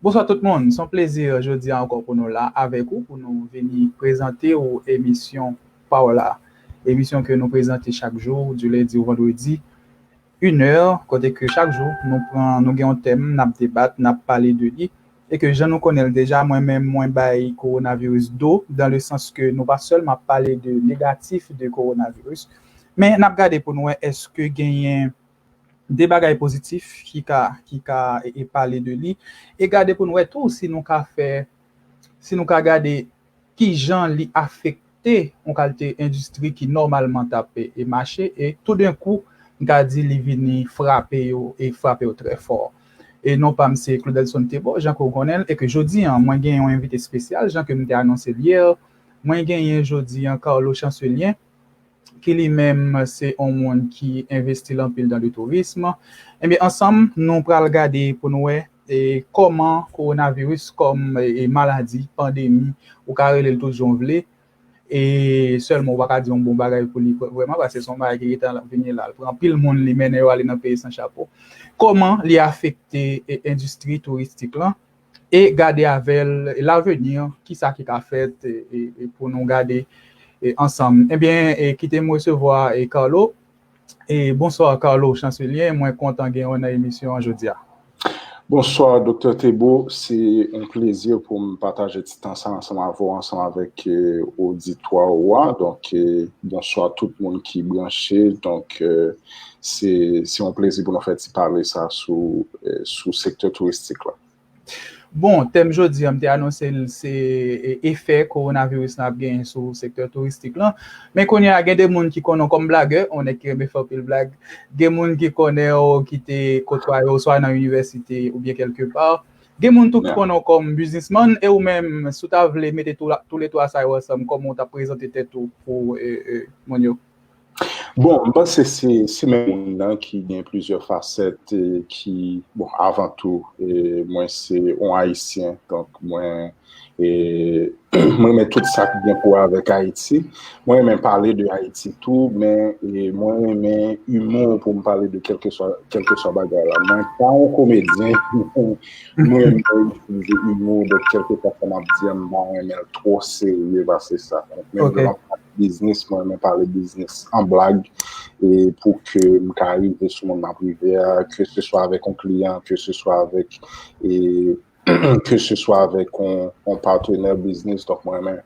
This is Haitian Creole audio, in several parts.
Bonswa tout moun, son plezi jodi a ankò pou nou la avèk ou pou nou vini prezante ou emisyon pa w la. Emisyon ke nou prezante chak jou di lendi ou vandredi 1 è kote ke chak jou nou pran nou gen yon tèm nap debat nap pale de li e ke jan nou konnen l deja mwen menm mwen bay kowonaviris do dan le sans ke nou pa sèlman ap pale de negatif de kowonaviris men nap gade pou nou wè eske genyen 2 bagay pozitif ki ka ki ka e pale de li e gade pou n wè tou si nou ka fè si nou ka gade ki jan li afekte yon kalte endistri ki nòmalman t ap e mache e toudenkou m ka di li vini frape yo e frape yo trè fò e non pa m se Claudelson Thébault jan ke w konnen l e ke jodi an mwen gen yon envite espesyal jan ke m te anonse l yè mwen genyen jodi an Carlo Chancelien ki li menm se on moun ki envestil anpil dan le tourism. Ebyen ansanm nou pral gade pou nou wè kòman kowonaviris kòm maladi, pandemi, ou ka rele l tout jan w vle, e sèlman ou pa ka di on bon bagay pou li vrèman paske se on bagay ki gentan ap vini la, l pran anpil moun, li mennen yo ale nan peyi san chapo. Kòman li afekte endistri touristik lan, e gade avè l laveni ki sa ki ka fèt pou nou gade ansanm ebyen kite m resevwa Carlo Bonsoir Carlo Chancelier mwen kontan gen w nan emisyon an jodia. Bonsoir Doktè Thébeau se yon plezi pou m pataje ti tan sa ansanm avè w ansanm avèk oditwa ou a donk Bonsoir tout moun ki branche donk. Se yon plezi pou nou fè ti pale sa sou sektè touristik la. Bon, tèm jodi a m te anonse l se efè kowonaviris lan ap genyen sou sektè touristik lan. Men kounye a gen de moun ki konnen w kòm blagè, yon nèg ki renmen fè anpil blag. Gen moun ki konnen w ki te kotwaye w swa nan inivèsite oubyen kèlke pa. Gen moun tou ki konnen w kòm biznismann. E ou menm, si w ta vle mete toule twa sa yo ansanm, kòman w t ap prezante tèt ou pou moun yo? Bon, m panse se menm moun nan ki gen plizyè fasèt ki, bon, avan tou, mwen se yon Ayisyen, donk mwen renmen tout sa ki gen pou wè avèk Ayiti. Mwen renmen pale de Ayiti tou, men mwen renmen imou pou m pale de kèlkeswa bagay la. Mwen pa yon komedyen, mwen renmen itilize imou, donk kèlkeswa sa m ap di an, m pa renmen l twò serye pase sa. Donk menm lè m ap pale. Biznis, mwen renmen pale biznis an blag e pou ke m ka rive sou moun m ap rive a, ke se swa avèk yon kliyan, ke se swa avèk e ke se swa avèk yon patenè biznis. Donk mwen renmen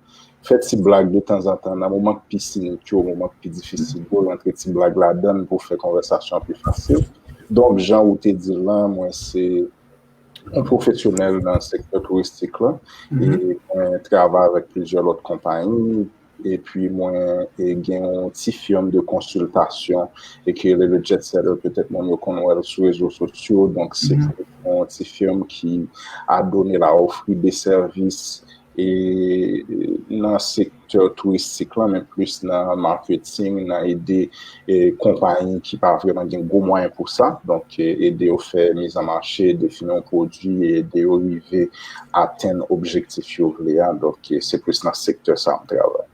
fè ti blag de tanzantan nan moman k pi sinik yo, moman k pi difisil yo, rantre ti blag ladan l pou fè konvèsasyon an pi fasil. Donk jan ou te di l lan, mwen se yon pwofesyonèl nan sektè touristik la, e mwen travay avèk plizyè lòt konpayi, epi mwen gen yon ti firm de konsiltasyon, e ki rele le Jet Setter, petèt moun yo konn wèl sou rezo sosyo, donk se yon ti firm ki a done la ofri de sèvis, e nan sektè touristik lan men plis nan marketing nan ede konpayi ki pa vreman gen gwo mwayen pou sa donk ede yo fè miz an mache defini yon pwodwi e ede yo rive atenn objektif yo vle a donk se plis nan sektè sa m travay.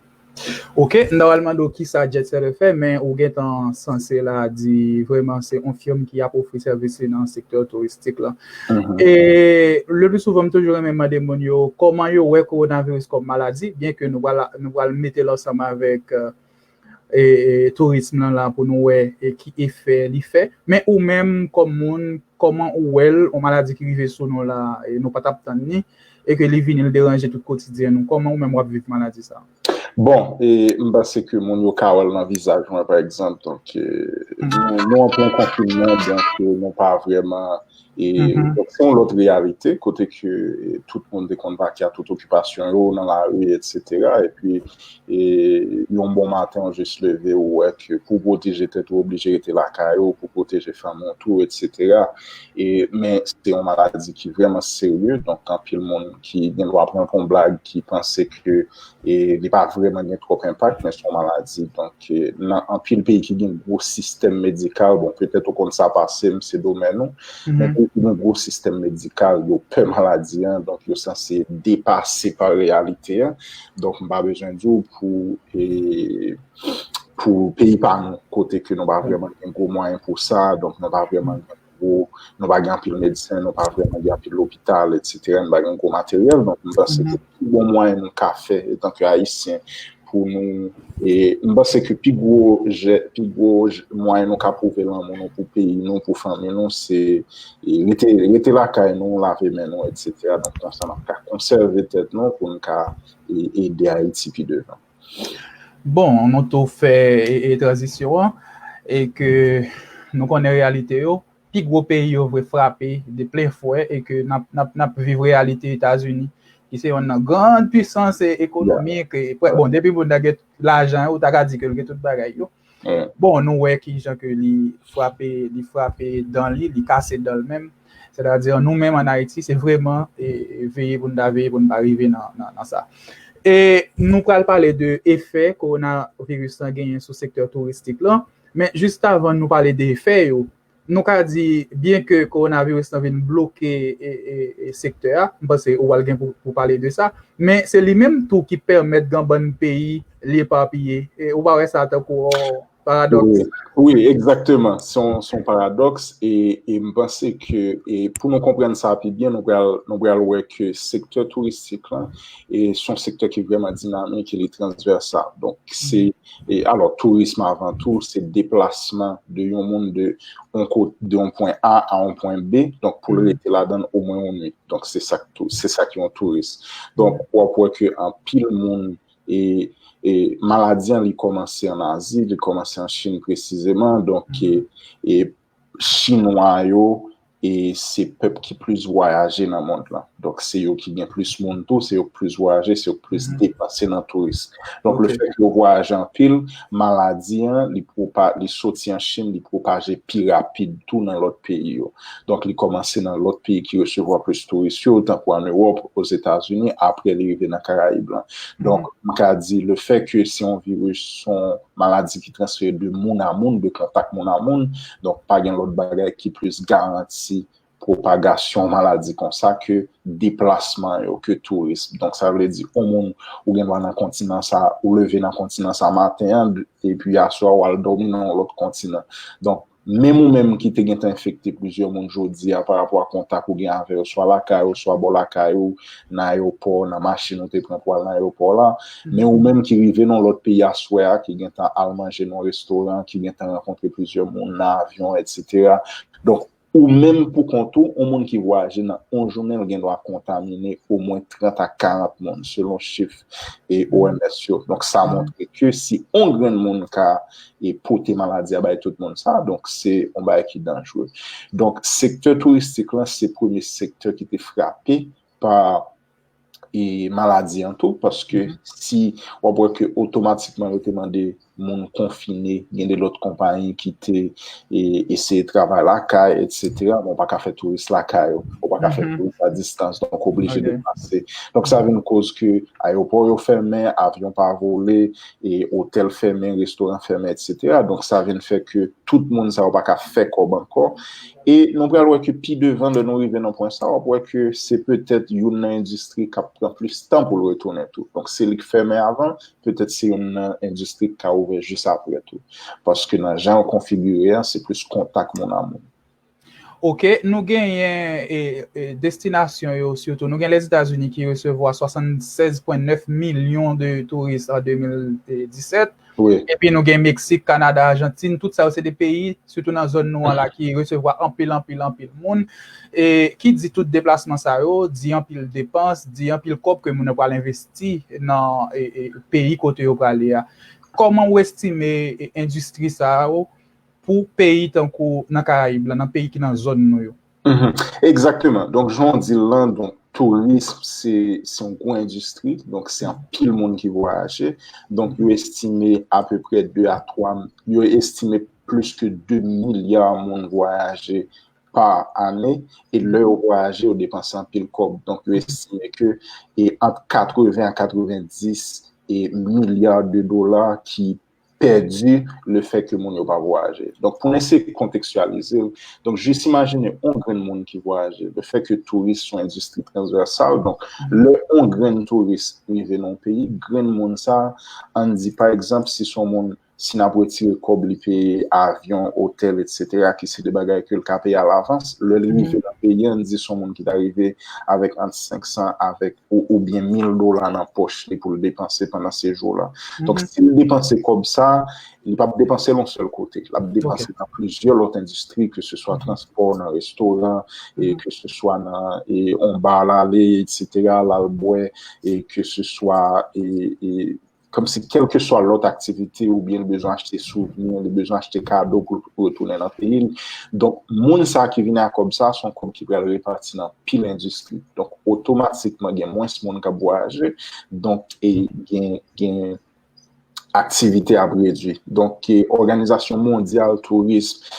Ok m ta pral mande w kisa Jet Setter fè men ou gentan sanse la di vreman se yon firm ki ap ofri sèvis li nan sektè touristik lan. E le pli souvan m toujou renmen mande moun yo kòman yo wè kowonaviris kòm maladi byen ke nou pral mete l ansanm avèk tourism lan la pou nou wè ki efè li fè men ou menm kòm moun kòman ou wè l yon maladi ki rive sou nou la nou pa t ap tann ni. E ke li vini li deranje tout kotidyen nou. Kòman ou menm wap viv maladi sa? Bon, m panse ke moun yo ka wèl nan vizaj mwen pa egzanp. Donk, nou an plen konfinman, donk nou pa vrèman, e donk son lòt reyalite kote ke tout moun te konn vake a tout okipasyon yo nan lari, etsetera. E pi, E yon bon maten ou jis leve ou wè ke pou pwoteje tèt ou oblije rete lakay ou, pou pwoteje fanmi w tou etsetera. E men se yon maladi ki vrèman serye donk anpil moun ki gen dwa pran pou yon blag ki panse ke e li pa vrèman gen twòp enpak men se yon maladi donk nan anpil peyi ki gen gwo sistèm medikal bon petèt ou konn sa pase m se domèn ou men peyi ki gen gwo sistèm medikal yo pè maladi an donk yo sanse depase pa reyalite an. Donk m pa bezwen di w pou e pou peyi pa nou kote ke nou pa vreman gen gwo mwayen pou sa, donk nou pa vreman gen gwo, nou pa gen anpil medsen, nou pa vreman gen anpil lopital etsetera, nou pa gen gwo materyèl, donk m panse ke pi bon mwayen nou ka fè etan ke ayisyen pou nou e m panse ke pi gwo jè, pi gwo mwayen nou ka pwouve lanmou nou pou peyi nou, pou fanmi nou se. rete lakay nou, lave men nou, etc. Donk konsa nap ka konsève tèt nou pou n ka ede Ayiti pi devan. Bon, nou tou fè tranzisyon an e ke nou konnen reyalite yo, pi gwo peyi yo vre frape de plen fwè e ke nap viv reyalite Etazini ki se yonn nan grand pwisans ekonomik, bon depi moun nan gen lajan ou ta ka di ke l gen tout bagay yo. Bon, nou wè ki jan ke li frape, li frape dan li, li kase dan l menm. Sètadi, nou menm an Ayiti, se vreman veye pou n ta veye pou n pa rive nan sa. E nou pral pale de efè kowonaviris lan genyen sou sektè touristik lan. Men, jiskavan nou pale de efè yo, Nou ka di byen ke kowonaviris lan vin bloke sektè a, m panse ou pral gen pou pale de sa, men se li menm tou ki pèmèt gan bann peyi li epapiye, ou pa wè sa tankou yon paradòks? Wi, egzakteman, se yon paradòks e m panse ke pou nou konprann sa pi byen nou pral wè ke sektè touristik lan se yon sektè ki vrèman dinamik e li transvèsal. Donk se E alò, tourism avan tou, se deplasman de yon moun de yon pwen A a yon pwen B, donk pou l rete ladan l omwen yon nwit. Donk se sa ki yon touris. Donk w ap wè ke anpil moun, e maladi an li kòmanse an Azi, li kòmanse an Chin presizeman, donk Chinwa yo e se pèp ki plis vwayaje nan mond lan. Donk se yo ki gen plis moun tou, se yo ki plis vwayaje, se yo ki plis depanse nan touris. Donk le fèt yo vwayaje anpil, maladi an li pwopa, li soti an Chin, li pwopaje pi rapid tou nan lòt peyi yo. Donk li kòmanse nan lòt peyi ki resevwa plis touris yo, tankou an Ewòp, Ozetazini, apre li rive nan Karayib lan. Donk m ka di le fèt ke se yon viris, se yon maladi ki. transfere de moun a moun, de kontak moun a moun, donk pa gen lòt bagay ki plis garanti pwopagasyon maladi konsa ke deplasman yo, ke tourism. Donk sa vle di, yon moun ou gen dwa nan kontinan sa, ou leve nan kontinan sa maten an, epi aswè a ou al dòmi nan yon lòt kontinan. Donk, Menm ou menm ki te gentan enfekte plizyè moun jodi a pa rapò a kontak ou gen avè yo swa lakay ou, swa bò lakay ou, nan ayewopò, nan machin ou te pran pou al nan ayewopò la, men ou menm ki rive nan yon lòt peyi aswè a, ki gentan al manje nan yon restoran, ki gentan rankontre plizyè moun nan avyon, etsetera. Donk, ou menm pou kont ou, yon moun ki vwayaje nan yon jounen l gen dwa kontamine omwen 30 a 40 moun, selon chif OMS yo. Donk, sa montre ke si yon grenn moun ka e pote maladi a bay tout moun sa, donk se yon bagay ki danjre. Donk sektè touristik lan se premye sektè ki te frape pa e maladi an tou, paske si w ap wè ke otomatikman yo te mande moun konfine, gen de lòt konpayi ki te e eseye travay lakay, etc. Bon, ou pa ka fè touris lakay ou, ou pa ka fè touris a distans, donk oblije deplase. Donk sa vin koz ke ayewopò yo fèmen, avyon pa vole, e otèl fèmen, restoran fèmen etc. Donk sa vin fè ke tout moun sa yo pa ka fè kòb ankò. E nou pral wè ke pi devan lè nou rive nan pwen sa wap wè ke se petèt youn nan endistri kap pran plis tan pou l retounen tou. Donk se li k fèmen avan, petèt se youn nan endistri k ka ouvè jis aprè tou. Paske nan jan yo konfigire an se plis kontak moun a moun. Ok, nou genyen destinasyon yo sitou, nou gen Lèzetazini ki resevwa 76,9 milyon de touris an 2017, epi nou gen Meksik, Kanada, Ajantin, tout sa yo se de peyi, sitou nan zòn nou an la ki resevwa anpil, anpil, anpil moun. E ki di tout deplasman sa yo, di anpil depans, di anpil kòb ke moun yo pral envesti nan peyi kote yo prale a. Kòman ou estime endistri sa yo pou peyi tankou nan karayib la, nan peyi ki nan zòn nou yo. Egzakteman, donk jan w di l lan, donk tourism se yon gwo endistri, donk se anpil moun ki vwayaje, donk yo estime apeprè 2 a 3, yo estime plis ke 2 milya moun vwayaje pa ane, e lè yo vwayaje yo depanse anpil kòb, donk yo estime ke ant 80 a 90 milya de dola ki. pèdi le fè ke moun yo pa vwayaje. Donk pou n eseye kontekstyalize l, donk jis imajine on grenn moun ki vwayaje, le fè ke touris son endistri transvèsal, donk lè on grenn touris rive nan on peyi, grenn moun sa, an n di pa egzanp si son moun, si n ap retire kòb li peye avyon, otèl etsetera ki se de bagay ke l ka peye alavans, lè l rive nan peyi an, n di son moun ki ta rive avèk ant 500 avèk. ou oubyen mil dola nan pòch li pou l depanse pandan sejou w la. Donk, si l depanse kòb sa, li p ap depanse l yon sèl kote. L ap depanse nan plizyè lòt endistri, ke se swa transpò, nan restoran, e ke se swa nan yon ba l ale, eksetera, l al bwè, e ke se swa e. Kòmsi kèlkeswa lòt aktivite oubyen li bezwen achte souvni, li bezwen achte kado pou l retounen nan peyi l. Donk, moun sa ki vini a kòb sa, se yon kòb ki pral repati nan pil endistri. Donk, otomatikman gen mwens moun k ap vwayaje. Donk, gen aktivite ap redui. Donk, Òganizasyon mondyal tourism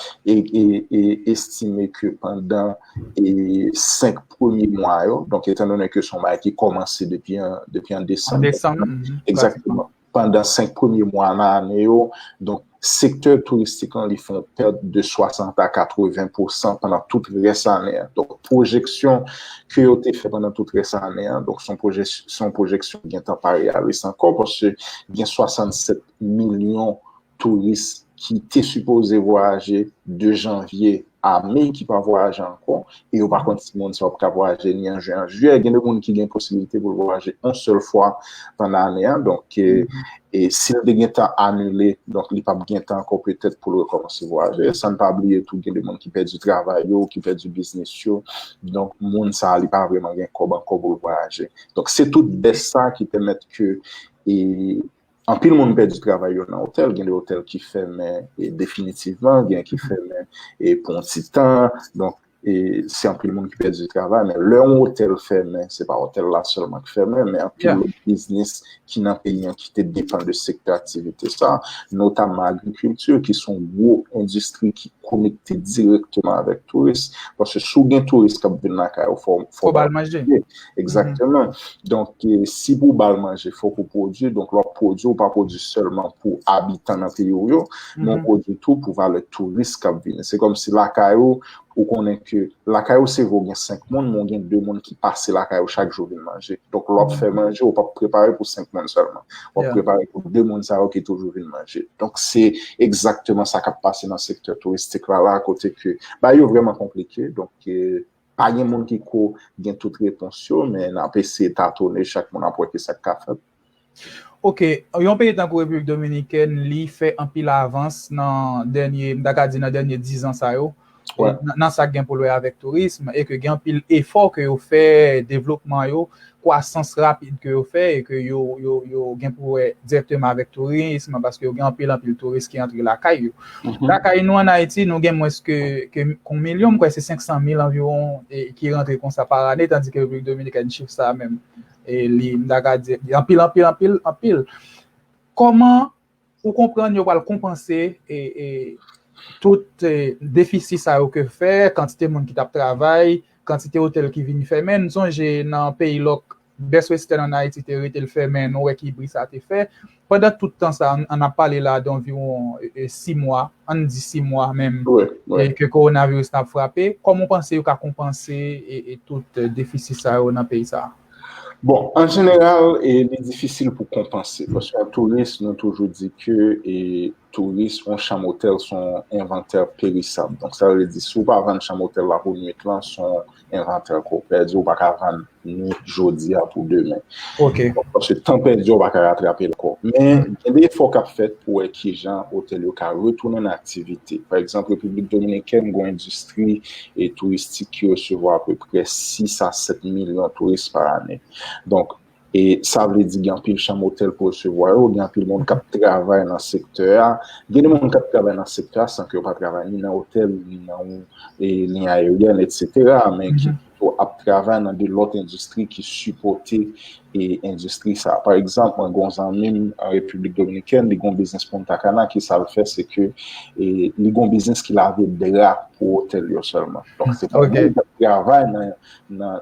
estime ke pandan 5 premye mwa yo, donk etan donnen ke son bagay ki kòmanse depi an, depi an desanm. An desanm. Ekzakteman. Pandan 5 premye mwa nan ane yo, donk sektè touristik lan li fè yon pèd de 60 a 80 pousan pandan tout rès ane an. Donk pwojeksyon ke yo te fè pandan tout rès ane an, donk son pwojè, son pwojeksyon ki gentan pa reyalis ankò paske gen 67 milyon touris ki te sipoze vwayaje de janvye a me ki pa vwayaje ankò, e yo pa konn si moun sa yo ap ka vwayaje ni an jyen an jiyè, gen de moun ki gen posibilite pou l vwayaje yon sèl fwa pandan ane a, donk si l te gen tan anile, donk li pa p gen tan ankò petèt pou l rekòmanse vwayaje, san n pa bliye tou gen de moun ki pèdi travay yo, ki pèdi biznis yo, donk moun sa li pa vreman gen kòb ankò pou l vwayaje. Donk se tout bès sa ki pèmèt ke. Anpil moun pèdi travay yo nan otèl, gen de otèl ki fèmen definitivman, gen ki fèmen pou yon ti tan, donk se anpil moun ki pèdi travay, men lè yon otèl fèmen, se pa otèl la sèlman ki fèmen, men anpil lòt biznis ki nan peyi an ki te depan de sektè aktivite sa, notamman agrikilti, ki se yon gwo endistri ki konekte direkteman avèk touris, paske si w gen touris k ap vin lakay ou, fò w ba l manje. Exactement. Donc, si pou bal manje, fok ou pwodwi. Donc, lò pwodwi, ou pa pwodwi sèlman pou abitan nan peyi ou yo, men ou pwodwi tou pou valè touris kap vini. Se kòm si lakay ou, ou konnen ke lakay ou se vre ou gen 5 moun, men ou gen 2 moun ki pase lakay ou chak jou vin manje. Donc, lò ap fè manje, ou pap prepare pou 5 moun sèlman. Ou ap prepare pou 2 moun sa yo ki toujou vin manje. Donc, se exactement sa kap pase nan sektè touristik la la, kote ke bagay yo vrèman konplike. Donc, Pa gen moun ki ko gen tout repons yo, men n ap eseye tatone, chak moun ap wè ki sa k ka fèt. Ok, yon peyi tankou Repiblik Dominikèn, li fè anpil avans nan dènye, m ta ka di nan dènye dizan sa yo, nan sa k gen pou l wè avèk tourism, e ke gen anpil efò ke yo fè, devlopman yo, kwasans rapid ke yo fè e ke yo gen pou wè dirèkteman avèk tourism, paske yo gen anpil anpil touris ki antre lakay yo. Lakay nou an Ayiti, nou gen mwens ke yon milyon, mwen kwè se 500 mil anviwon ki rantre konsa par ane, tandi ke Repiblik Dominikèn chif sa a menm, li m ta ka di anpil, anpil, anpil, anpil. Kòman Ou konprann yo pral konpanse tout defisi sa yo ke fè, kantite moun ki t ap travay, kantite otèl ki vin fèmen. N sonje nan peyi lòk, Best Western an Ayiti te rete l fèmen, nou wè ki bri sa te fè. Pandan tout tan sa a, n ap pale la a donviwon si mwa, an n di si mwa menm, ke kowonaviris nan ap frape, kòman w panse yo ka konpanse tout defisi sa yo nan peyi sa a? Bon, an jeneral, e li difisil pou konpanse. Paske an touris, nou toujou di ke e touris, an chanm otèl son envantè perisab. Donk sa vle di, si ou pa vann chanm otèl la pou nwit lan, son envantè ke ou pèdi, ou pa ka vann nwit jodi a pou demen. Ok. Paske tan pèdi a, ou pa ka ratrape l ankò. Men, gen de efò k ap fèt pou wè ki jan otèl yo ka retounen nan aktivite. Pa egzanp, Repiblik Dominikèn gen yon endistri e touristik ki resevwa apeprè 6 a 7 milyon touris pa ane. Donk, e sa vle di gen anpil chanm otèl pou resevwa yo, gen anpil moun k ap travay nan sektè a. Gen de moun k ap travay nan sektè a san ke yo pa travay ni nan otèl, ni nan yon liy ayeryèn, etsetera, men ki pito ap travay nan de lòt endistri ki sipòte e endistri sa. Pa egzanp, mwen gen yon zanmi m an Repiblik Dominikèn, li gen yon biznis Punta Cana, ki sa l fè se ke li gen yon biznis ki lave dra pou otèl yo sèlman. Donk se pa moun kap travay nan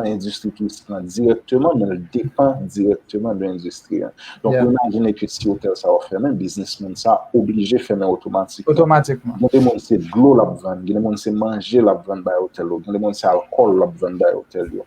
endistri touristik lan dirèkteman, men l depan dirèkteman de endistri an. Donk ou imajine ke si otèl sa yo fèmen, biznis moun sa oblije fèmen otomatikman. Otomatikman. Gen de moun se dlo lap vann, gen de moun se manje lap vann bay otèl yo, gen de moun se alkòl lap vann bay otèl yo.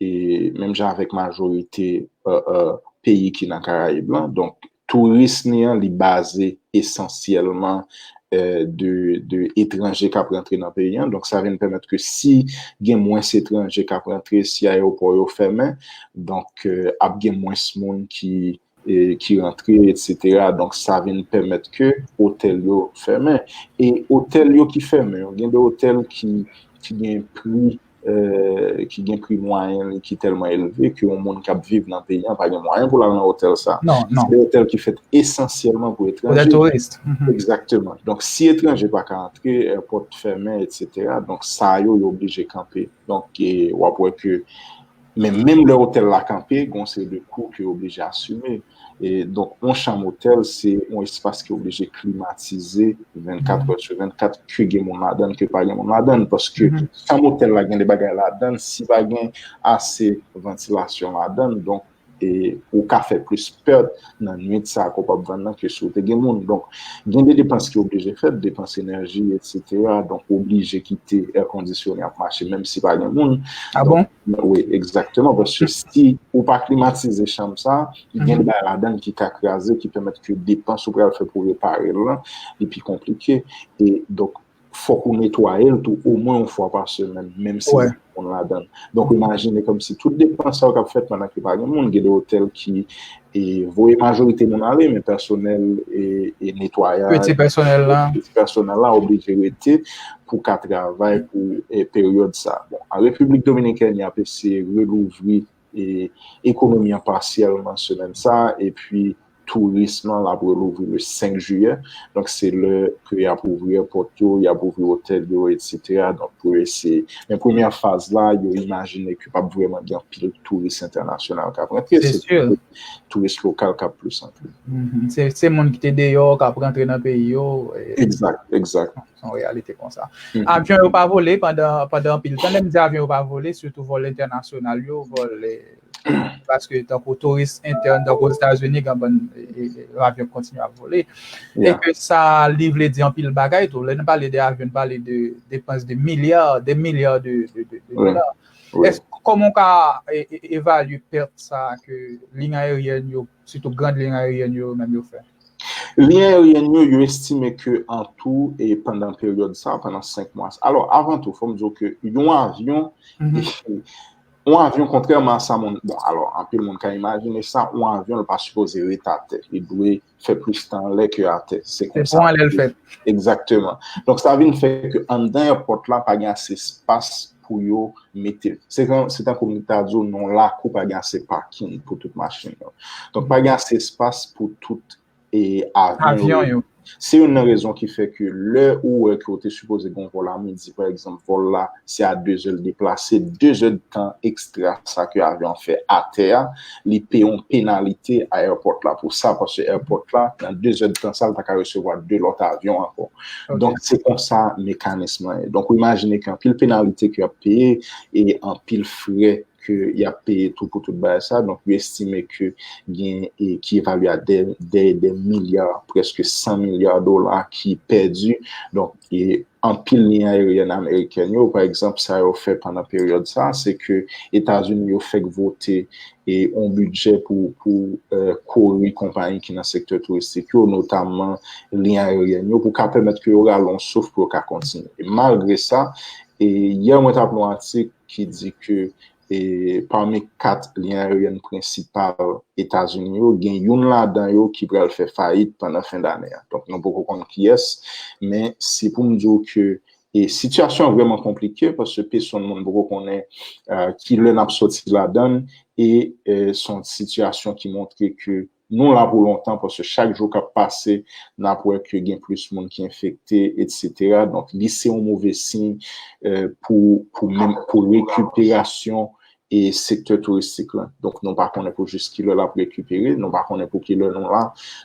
e menm jan avèk majorite peyi ki nan karayib lan, donk touris ni an li baze esansyèlman de etranje kap rantre nan peyi an, donk sa vin pèmèt ke si gen mwens etranje kap rantre, si ayewopò yo fèmen, donk ap gen mwens moun ki ki rantre etc donk sa vin pèmèt ke otèl yo fèmen e otèl yo ki fèmen yo gen de otèl ki gen pri ki gen pri mwayen li ki tèlman elve ke yon moun kap viv nan peyi an pa gen mwayen pou l al nan otèl sa se de otèl ki fèt esansyèlman pou etranje ekzakteman donk si etranje pa ka antre èpòt fèmen etc donk sa yo yo oblije kanpe donk wap wè ke Men menm lè otèl la kanpe, gen yon seri de kou ke yo oblije asime. E donk yon chanm otèl se yon espas ki oblije klimatize 24 è sou 24 ke gen moun ladan l ke pa gen moun ladan l. Paske chanm otèl la gen de bagay ladan l, si pa gen ase vantilasyon ladan l donk ou ka fè plis pèt. nan nwit sa ke w pap vann nan ke si w te gen moun. Donk, gen de depans ki oblije fèt, depans enèji, etsetera. Donk, w oblije kite èkondisyone ap mache menm si pa gen moun. A bon? Wi, egzakteman. Paske si ou pa klimatize chanm sa, gen bagay ladan l ki ka kraze, ki pèmèt ke depans ou pral fè pou repare l lan li pi konplike. E, donk, fòk ou netwaye l tou omwen yon fwa pa semèn, menm si gen moun ladan. Donk, imajine kòmsi tout depans sa yo k ap fèt pandan ke pa gen moun. Gen de otèl ki voye majorite moun ale, men pèsonèl e netwayaj, piti pèsonèl la oblije rete pou ka travay pou peryòd sa. Bon, an Repiblik Dominikèn, y ap eseye relouvri ekonomi an pasyèlman semèn sa a epi tourism lan l ap relouvri le 5 jiyè. Donk se lè ke y ap ouvri èpòt yo, y ap ouvri otèl yo etsetera donk pou eseye. Men premyè faz la yo imajine ke p ap vrèman gen anpil touris entènasyonal k ap rantre. Se pito touris lokal k ap plis antre. Se moun ki te deyò k ap rantre nan peyi yo. Egzat, egzat. Son reyalite konsa. Avyon yo pa vole pandan anpil tan. Lèm di avyon yo pa vole, sitou vòl entènasyonal yo, vòl paske tankou touris entèn, tankou Ozetazini, gen ban avyon kontinye ap vole. E ke sa li vle di anpil bagay tou. Lè nou pale de avyon, nou pale de depans de milya, de milya de dola. Kòman ou ka evalye pèt sa ke liy ayeryèn yo Sitou grand lyen aeryen yo menm yo fè. Lyen aeryen yo, yo estime ke an tou e pandan peryòd sa, pandan 5 mwa sa. Alò, avan tou, fò m di w ke yon avyon, yon avyon kontrèman a sa moun, bon, alò, anpil moun ka imajine sa, yon avyon l pa sipoze ret atè. Li dwe fè plis tan anlè ke atè. Se pou anlè l fèt. Egzakteman. Donk sa vin fè ke anndan èpòt la pa gen ase espas. pou yo mete. Se jan, se tankou m ta di w nan yon lakou pa gen ase pakin pou tout machin yo. Donk pa gen ase espas pou tout e avyon yo. Se youn nan rezon ki fè ke lè ou wè ke ou te sipoze gen yon vòl a midi pa egzanp, vòl la se a dezè l deplase, dezè de tan ekstra sa ke avyon an fè atè a, li peye yon penalite a èpòt la pou sa, paske èpòt la nan dezè de tan sa l ta ka resevwa 2 lòt avyon ankò. Donk, se kon sa mekanism lan ye. Donk, ou imajine ki anpil penalite ki ap peye, e anpil fre ki ap peye tou pou tout baye sa. Donk, yo estime ki gen e ki evalye a dèye de milya, preske 100 milya dola ki pèdi. Donk, e anpil liy aeryen ameriken yo, pa egzanp, sa yo fè pandan peryòd sa, se ke Etazini yo fèk vote e yon bidjè pou kore konpayi ki nan sektè touristik yo, notamman liy ayeryèn yo, pou ka pèmèt ke yo rale yon souf pou yo ka kontinye. Malgre sa, yè mwen t ap li yon atik ki di ke pami kat liy ayeryèn prensipal Etazini yo, gen youn ladan yo ki pral fè fayit pandan fen dane a. Donk nou poko konn kiyès, men se pou m di w ke E sitiyasyon an vrèman konplike paske pesonn moun poko konnen ki lè n ap soti ladan l e se yon sitiyasyon ki montre ke nou la pou lontan paske chak jou k ap pase n ap wè ke gen plis moun ki enfekte etsetera donk li se yon move siy pou rekiperasyon e sektè touristik lan. Donk nou pa konnen pou jis ki lè l ap rekipere, nou pa konnen pou ki lè nou la.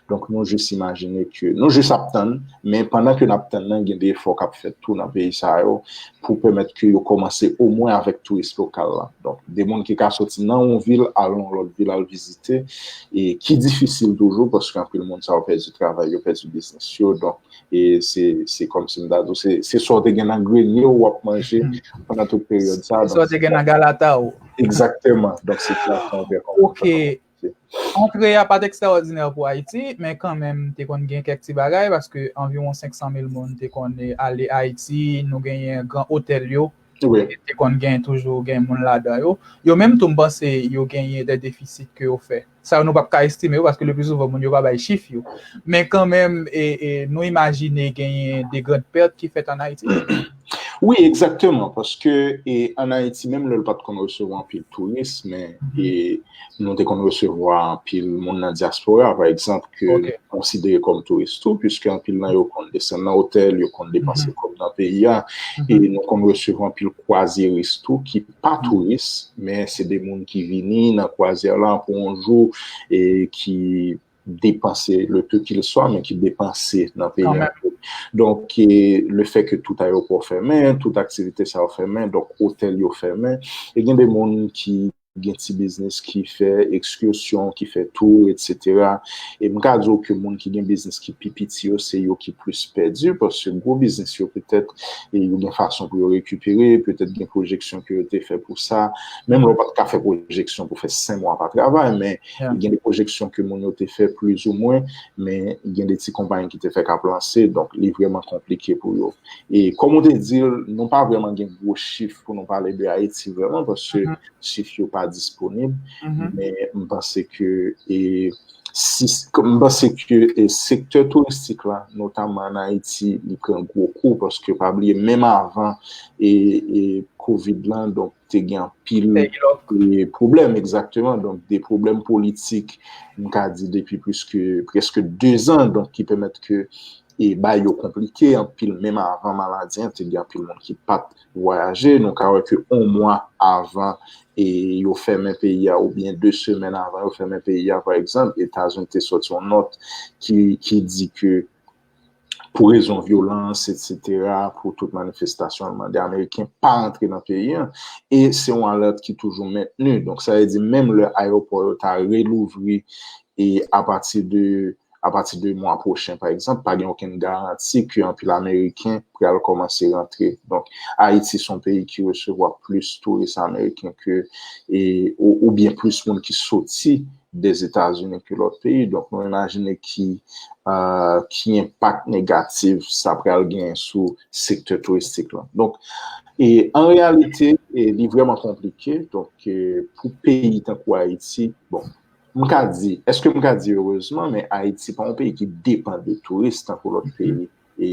Donk nou jis imajine ke, nou jis ap tann, men pandan ke n ap tann nan gen de efò k ap fèt tou nan peyi sa yo pou pèmèt ke yo kòmanse omwen avèk touris lokal la. Donk de moun ki ka soti nan yon vil al yon lòt vil al vizite e ki difisil toujou paske anpil moun sa yo pèdi travay yo, pèdi biznis yo. Donk E se kòm si m ta di w, se sa w te gen nan grenye w wap manje pandan tout peryòd sa. Se sa w te gen nan galata w. Ekzaktèman. Donk se sa w te gen. Ok. Antre a pa t ekstraòdinè pou Ayiti, men kan menm te konn gen kèk ti bagay, paske anviwon 500 mil moun te konn ale Ayiti, nou genyen gran otèl yo, te konn gen toujou gen moun ladan yo. Yo menm tou m panse yo genyen de defisit ke yo fè. Sa yo nou pap ka estime yo paske le pli souvan moun yo pa bay chif yo. Men kan menm nou imajine genyen de grand pèrt ki fèt an Ayiti. Wi, egzakteman, paske an Ayiti menm lè l pat konn resevwa anpil touris men nou te konn resevwa anpil moun nan dyaspora pa egzanp ke nou konsidere kòm touris tou pwiske anpil nan yo konn desann nan otèl, yo konn depanse kòb nan peyi a e nou konn resevwa anpil kwazyeris tou ki pa touris men se de moun ki vini nan kwazyè la pou yon jou e ki depanse le peu kil swa men ki depanse nan peyi an. Donk le fè ke tout ayopò fèmen, tout aktivite sa yo fèmen, donk otèl yo fèmen, e gen de moun ki gen ti biznis ki fè ekskursyon, ki fè tou, etsetera. E m ka di w ke moun ki gen biznis ki pi piti yo se yo ki plis pèdi paske gwo biznis yo petèt e yo gen fason pou yo rekipere, petèt gen pwojeksyon ke yo te fè pou sa, menm lè ou pa t ka fè pwojeksyon pou fè 5 mwa pa travay, men gen de pwojeksyon ke moun yo te fè plis ou mwen, men gen de ti konpayi ki te fè kap lanse, donk li vreman konplike pou yo. E kòm ou te di l, nou pa vreman gen gwo chif pou nou pale de Ayiti vreman, paske chif yo pa disponib, men m panse ke e M panse ke sektè touristik la notamman an Ayiti li pran gwo kou paske pa bliye menm avan covid lan donk te gen anpil pwoblèm egzakteman donk de pwoblèm politik m ka di depi plis ke preske 2 zan donk ki pèmèt ke e bay yo konplike anpil menm avan maladi an te gen anpil moun ki pat vwayaje, nou ka wè ke on mwa avan e yo fèmen peyi a oubyen 2 semèn avan yo fèmen peyi a pa egzanp Etazini te sòti yon nòt ki di ke pou rezon vyolans etsetera pou tout manifestasyon yo mande ameriken pa rantre nan peyi an e se yon alèt ki toujou mentni donk sa vle di menm lè ayewopò yo ta relouvri e apati de apati de mwa pwochen pa egzanp, pa gen okenn garanti ke anpil ameriken pral kòmanse rantre. Donk, Ayiti se yon peyi ki resevwa plis touris ameriken ke oubyen plis moun ki soti Dèzetazini ke lòt peyi. Donk, nou imajine ki enpak negatif sa pral gen sou sektè touristik lan. Donk, an reyalite, li vreman konplike. Donk, pou peyi tankou Ayiti, bon, M ka di, eske m ka di erezman, men Ayiti pa yon peyi ki depan de touris tankou lòt peyi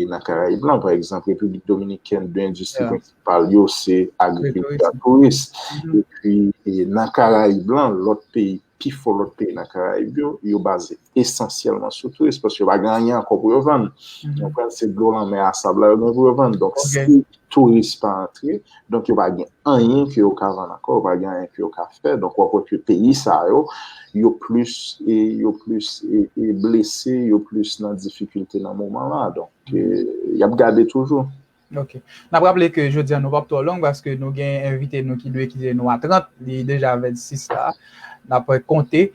nan Karayib lan. Pa egzanp, Repiblik Dominikèn, de endistri prensipal yo se agrikilti ak touris. E pi, nan Karayib lan, lòt peyi, pi fò lòt peyi nan Karayib yo, yo baze esansyèlman sou touris paske yo pa gen anyen ankò pou yo vann. Ou konprann? Se dlo lanmè a sab la yo gen pou yo vann. Donk, si touris pa antre, donk yo pa gen anyen ke yo ka vann ankò, yo pa gen anyen ke yo ka fè, donk wap wè ke peyi sa yo, yo plis, yo plis blese, yo plis nan difikilte nan moman la, donk yap gade toujou. Ok. Nap raple ke jodi an nou pap twò long paske nou gen envite nou ki dwe kite nou a 30, li deja 26 la, nap konte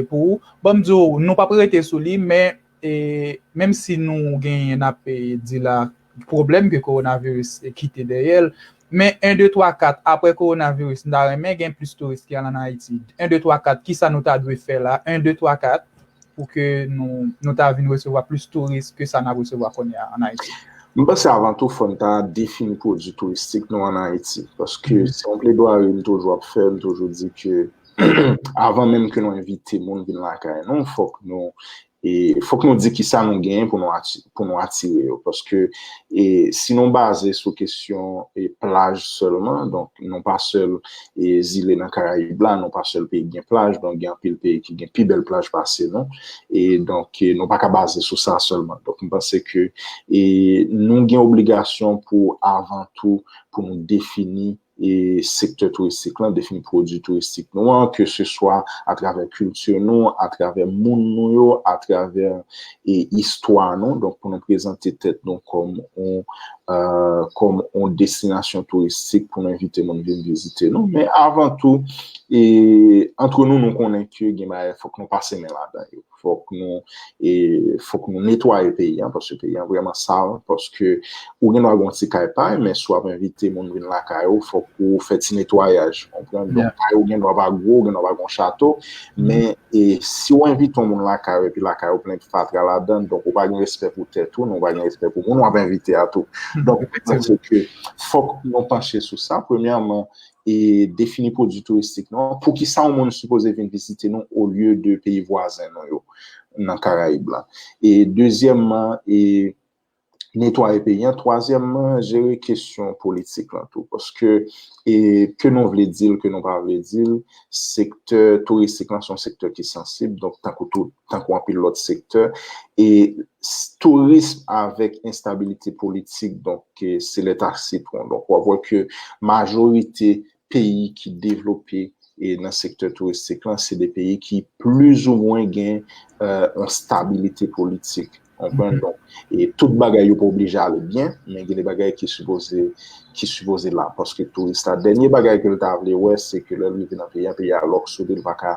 pou ou. Bon m di w, nou pap rete sou li men, E menm si nou genyen n ap di la pwoblèm ke kowonaviris kite dèyè l, men 1, 2, 3, 4 apre kowonaviris m ta renmen gen plis touris ki al an Ayiti. 1, 2, 3, 4 kisa nou ta dwe fè la 1, 2, 3, 4 pou ke nou ta vin resevwa plis touris ke sa n ap resevwa kounye a an Ayiti? M panse avan tou fò n ta defini pwodui touristik nou an Ayiti paske se yon pledwari m toujou ap fè, m toujou di ke. Avan menm ke nou envite moun vin lakay nou, fòk nou fòk nou di kisa nou genyen pou nou atire yo. Paske si nou baze sou kesyon plaj sèlman, donk nou pa sèl zile nan karayib la, nou pa sèl peyi ki gen plaj, donk gen anpil peyi ki gen pi bèl plaj pase nou. E donk nou pa ka baze sou sa sèlman. Donk m panse ke nou gen obligasyon pou avan tou pou nou defini e sektè touristik lan, defini pwodui touristik nou an, ke se swa atravè kilti nou, atravè moun nou yo, atravè e istwa nou, donk pou nou prezante tèt nou kòm on kòm on destinasyon touristik pou nou envite moun vin vizite nou, men avan tou e antre nou nou konnen ke gen bagay fòk nou pase men ladan yo. fòk nou e fòk nou netwaye peyi an paske peyi an vrèman sal paske ou gen dwa gen yon ti kay pa w men si w ap envite moun vin lakay ou fòk ou fè ti netwayaj ou konprann donk kay ou gen dwa pa gwo gen dwa pa gen yon chato men e si w envite yon moun lakay ou epi lakay ou plen fatra ladan donk ou pa gen respè pou tèt ou nou pa gen respè pou moun w ap envite a tou donk mwen panse ke fòk nou panche sou sa premyèman e defini pwodwi touristik nou an, poukisa yon moun sipoze vin vizite nou olye de peyi vwazen nou yo nan Karayib la. E dezyèmman, e netwaye peyi an. Twazyèmman, jere kesyon politik lan tou. Paske, e ke nou vle di l, ke nou pa vle di l, sektè touristik lan se yon sektè ki sansib, donk tankou tout, tankou anpil lòt sektè. E tourism avèk enstabilite politik, donk, ke se leta sitwon. Donk wap wè ke majorite peyi ki devlope e nan sektè touristik lan se de peyi ki plizoumwen gen yon stabilite politik. Konprann? Donk e tout bagay yo pa oblije ale byen, men gen de bagay ki sipoze ki sipoze la. Paske touris la dènye bagay ke l ta vle wè se ke lè l rive nan peyi a, peyi a lòk sou li, li pa ka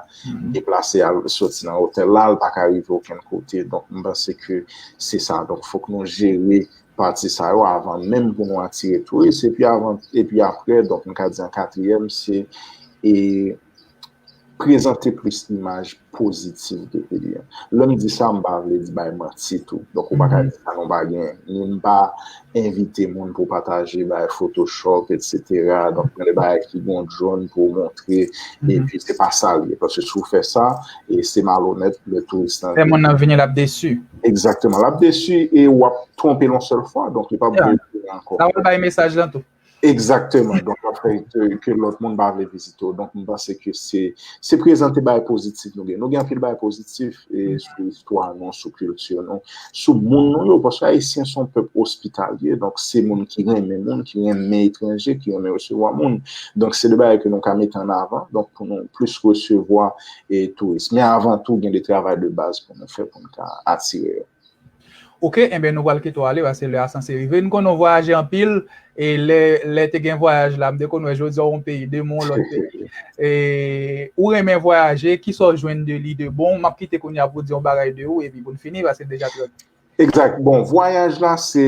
deplase al soti nan otèl la, li pa ka rive okenn kote. Donk m panse ke se sa. Donk fòk nou jere. pati sa yo avan menm pou nou atire touris epi avan epi aprè donk nou ka di an katriyèm se e prezante plis imaj pozitif de peyi a lè m di sa m pa vle di bay manti tou donk ou pa ka di sa nou pa gen ni m pa envite moun pou pataje bay photoshop etsetera donk gen de bagay ki gon dron pou montre epi se pa sa l ye paske si w fè sa e se malonèt lè touris lan vini lè moun nan vini l ap desi. Exactement. Lap desu e wap twonpe lon sel fwa. Donk li pap vle vizite anko. Sa wap bay mesaj lan tou. Exactement. Donk wap fè ke lot moun pa vle vizite w. Donk m panse ke se se prezante bagay pozitif nou gen. Nou gen anpil bagay pozitif e sou istwa nou, sou kilti nou, sou moun nou yo. Paske Ayisyen son pèp ospitalye. Donk se moun ki renmen moun, ki renmen etranje, ki renmen resevwa moun. Donk se de bagay ke nou ka mete an avan. Donk pou nou plis resevwa e touris. Men avan tou gen de travay de baz. Kòman nou fè pou n ka atire yo? Ok, enben nou pral kite w ale paske lè a sanse rive. M konnen w vwayaje anpil e lè te gen vwayaj la, m te konn wè jodi a w yon peyi, demen w lòt peyi. E ou renmen vwayaje, ki sa w jwenn de li de bon? M ap kite kounye a pou w di yon bagay de ou epi pou n fini paske l deja trè. Egzat. Bon, vwayaj la se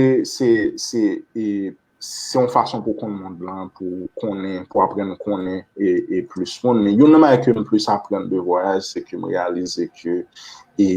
se yon fason pou konn mond lan, pou konnen, pou aprenn konnen e plis moun. Men yon nan bagay ke m plis aprann de vwayaj, se ke m reyalize ke e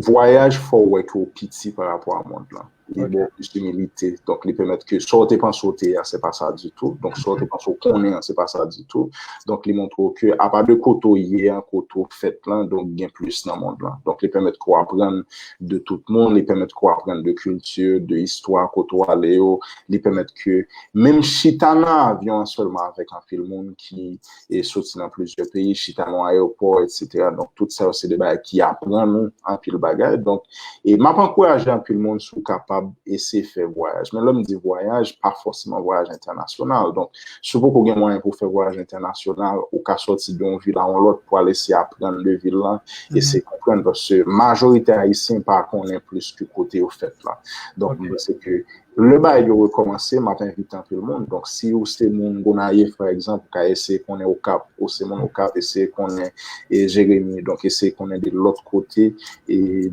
vwayaj fè w wè ke w piti pa rapò a mond lan. Li ba w plis imilite. Donk li pèmèt ke sa w te panse w te a, se pa sa ditou. Donk sa w te panse w konnen an, se pa sa ditou. Donk li montre w ke apa de kote w ye an, kote w fèt lan, donk gen plis nan mond lan. Donk li pèmèt ke w aprann de tout moun, li pèmèt ke w aprann de kilti, de istwa kote w ale yo, li pèmèt ke menm chita nan avyon an sèlman avèk anpil moun ki soti nan plizyè peyi, chita nan ayewopò, etsetera. Donk, tout sa yo se de bagay ki aprann ou anpil bagay. Donk, e m ap ankouraje anpil moun si w kapab eseye fè vwayaj. Men lè m di vwayaj, pa fòseman vwayaj entènasyonal. Donk, Si w poko gen mwayen pou w fè vwayaj entènasyonal, ou ka sòti de yon vil a yon lòt pou al eseye aprann de vil lan, eseye konprann paske majorite Ayisyen pa konnen plis ke kote yo fèt lan. Donk mwen panse ke lè bagay yo rekòmanse, m ap envite anpil moun. Donk si ou se moun Gonayiv pa egzanp, ou ka eseye konnen Okap. Ou se moun Okap, eseye konnen Jeremi. Donk eseye konnen de lòt kote.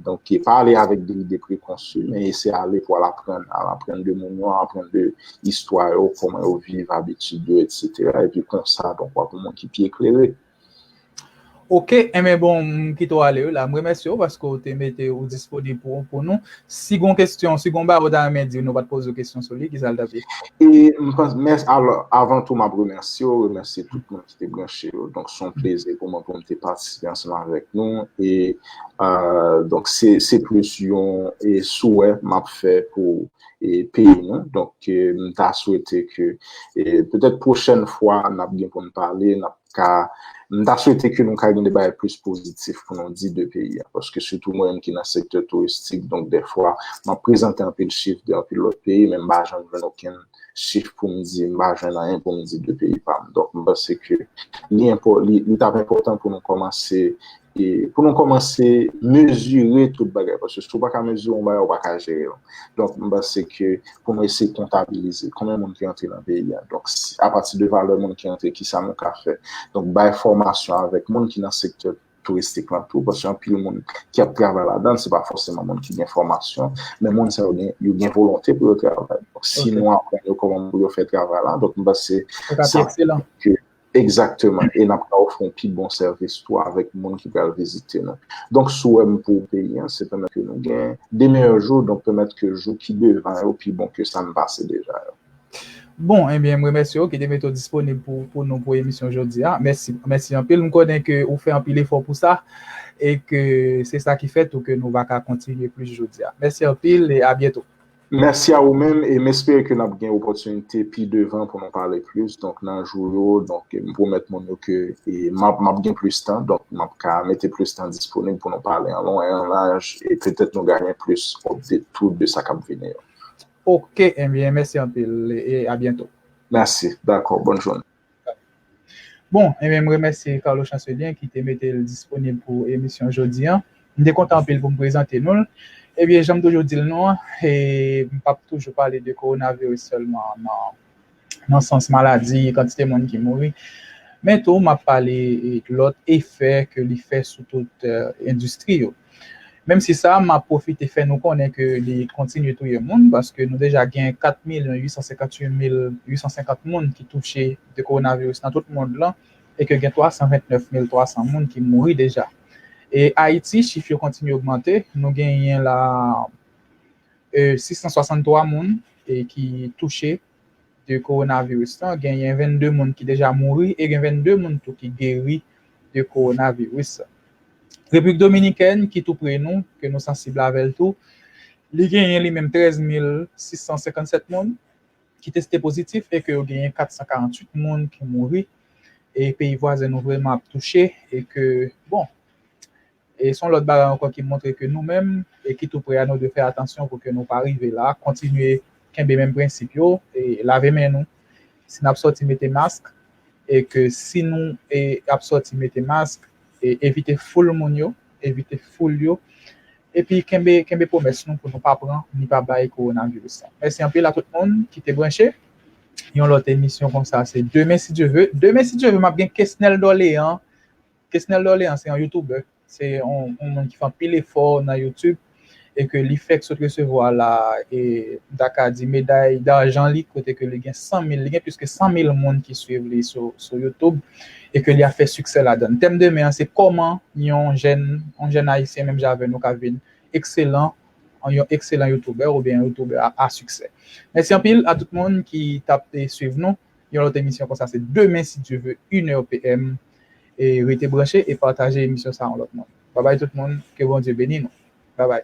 Donk pa ale avèk de lide prekonsi men eseye ale pou al aprann. Al aprann de moun yo, al aprann de. istwa yo, kòman yo viv, abitid yo, etsetera, epi konsa, donk wap yon moun ki pi eklere. Ok, enben bon, m kite w ale wi la. M remèsye w paske w te mete ou disponib pou pou nou. Si gon kesyon, si gon bagay ou ta renmen di m nou pa t poze w kesyon sou li, ki sa l t ap ye? E m panse, mès, alò, avan tou m ap remèsye w, remèsye tout moun ki te branche yo. Donk se yon plezi pou mwen pou m te patisipe ansanm avèk nou. E donk se se plis yon e souwè m ap fè pou peyi nou. Donk, m ta swete ke petèt pwochèn fwa n ap gen pou n pale, n ap ka, m ta swete ke nou ka gen de bagay plis pozitif pou nou di de peyi a. Paske sitou mwen menm ki nan sektè touristik, donk dèfwa m ap prezante anpil chif de anpil lòt peyi men m pa janm jwenn okenn chif pou m di, m pa jwenn anyen pou m di de peyi pa m. Donk, m panse ke li li t ap enpòtan pou nou kòmanse. E pou nou kòmanse mezire tout bagay, paske si ou pa ka mezire yon bagay, ou pa ka jere l. Donk, m panse ke pou nou eseye kontabilize konbyen moun ki antre nan peyi a. Donk, apati de valè moun ki antre, kisa nou ka fè? Donk, bay fòmasyon avèk moun ki nan sektè touristik lan tou, paske anpil moun ki ap travay ladan l, se pa fòseman moun ki gen fòmasyon, men moun sa yo gen volonte pou yo travay. Donk, si nou aprann yo kòman pou yo fè travay la, donk m panse sa. Exactement e nap ka ofri yon pi bon sèvis tou avèk moun ki pral vizite nou. Donk souwèm pou peyi an se pèmèt ke nou gen de meyè jou donk pèmèt ke jou ki devan yo pi bon ke sa n pase deja yo. Bon ebyen m remèsye w ki te mete w disponib pou nou pou emisyon jodi a. Mèsi mèsi anpil m konnen ke ou fè anpil efò pou sa e ke se sa ki fè tou ke nou va ka kontinye plis jodi a. Mèsi anpil e abyento. Mèsi a ou menm e m espere ke n ap gen opòtinite pi devan pou nou pale plis donk nan jou yo donk m pwomèt moun yo ke m ap m ap gen plis tan donk m ap ka mete plis tan disponib pou nou pale an lon e an laj e petèt nou gayen plis update tou de sa k ap vini yo. Ok, enbyen mèsi anpil e abyento. Mèsi, dakò, bòn jounen. Bon, e men m remèsye Carlo Chancelier ki te mete l disponib pou emisyon jodi an. M te kontan anpil pou m prezante nou l. E byen, jan m toujou di l nou an, e m pap toujou pale de kowonaviris sèlman nan nan sans maladi, kantite moun ki mouri, men tou m ap pale lòt efè ke li fè sou tout endistri yo. Menm si sa, m ap pwofite fè nou konnen ke li kontinye touye moun, paske nou deja gen 4 milyon 858 mil 850 moun ki touche de kowonaviris nan tout mond lan e ke gen 329 mil 300 moun ki mouri deja. E Ayiti, chif yo kontinye ogmante, nou genyen la 663 moun ki touche. de kowonaviris lan, genyen 22 moun ki deja mouri e gen 22 moun tou ki geri de kowonaviris. Repiblik Dominikèn ki tou pre nou, ke nou sansib avè l tou, li genyen li menm 13 mil 657 moun ki teste pozitif e ke yo genyen 448 moun ki mouri e peyi vwazen nou vreman ap touche e ke bon E son lòt bagay ankò ki montre ke nou menm e ki tou pre a nou dwe fè atansyon pou ke nou pa rive la, kontinye kenbe menm prensip yo, e lave men nou si nap sòti mete mask, e ke si nou e ap sòti mete mask e evite foul moun yo, evite foul yo, epi kenbe kenbe pwomès nou pou nou pa pran ni pa bay kowonaviris la. Mèsi anpil a tout moun ki te branche. Yon lòt emisyon konsa se demen si Dye ve. Demen si Dye ve map gen Kesnel Dorlean Kesnel Dorlean se yon youtuber, se yon moun ki fè anpil efò nan YouTube e ke li fèk sot resevwa la e m ta ka di meday darjan li kote ke li gen 100 mil, li gen plis ke 100 mil moun ki swiv li sou YouTube e ke li a fè siksè ladann. Tèm demen an se kòman yon jèn, yon jèn ayisyen menm jan avè nou ka vin ekselan, yon ekselan youtuber oubyen yon youtuber a siksè. Mèsi anpil a tout moun ki tap swiv nou, yon lòt emisyon konsa se demen si Dye ve 1 heure PM. e rete branche e pataje emisyon sa yon lòt moun babay tout moun ke Bondye beni nou babay.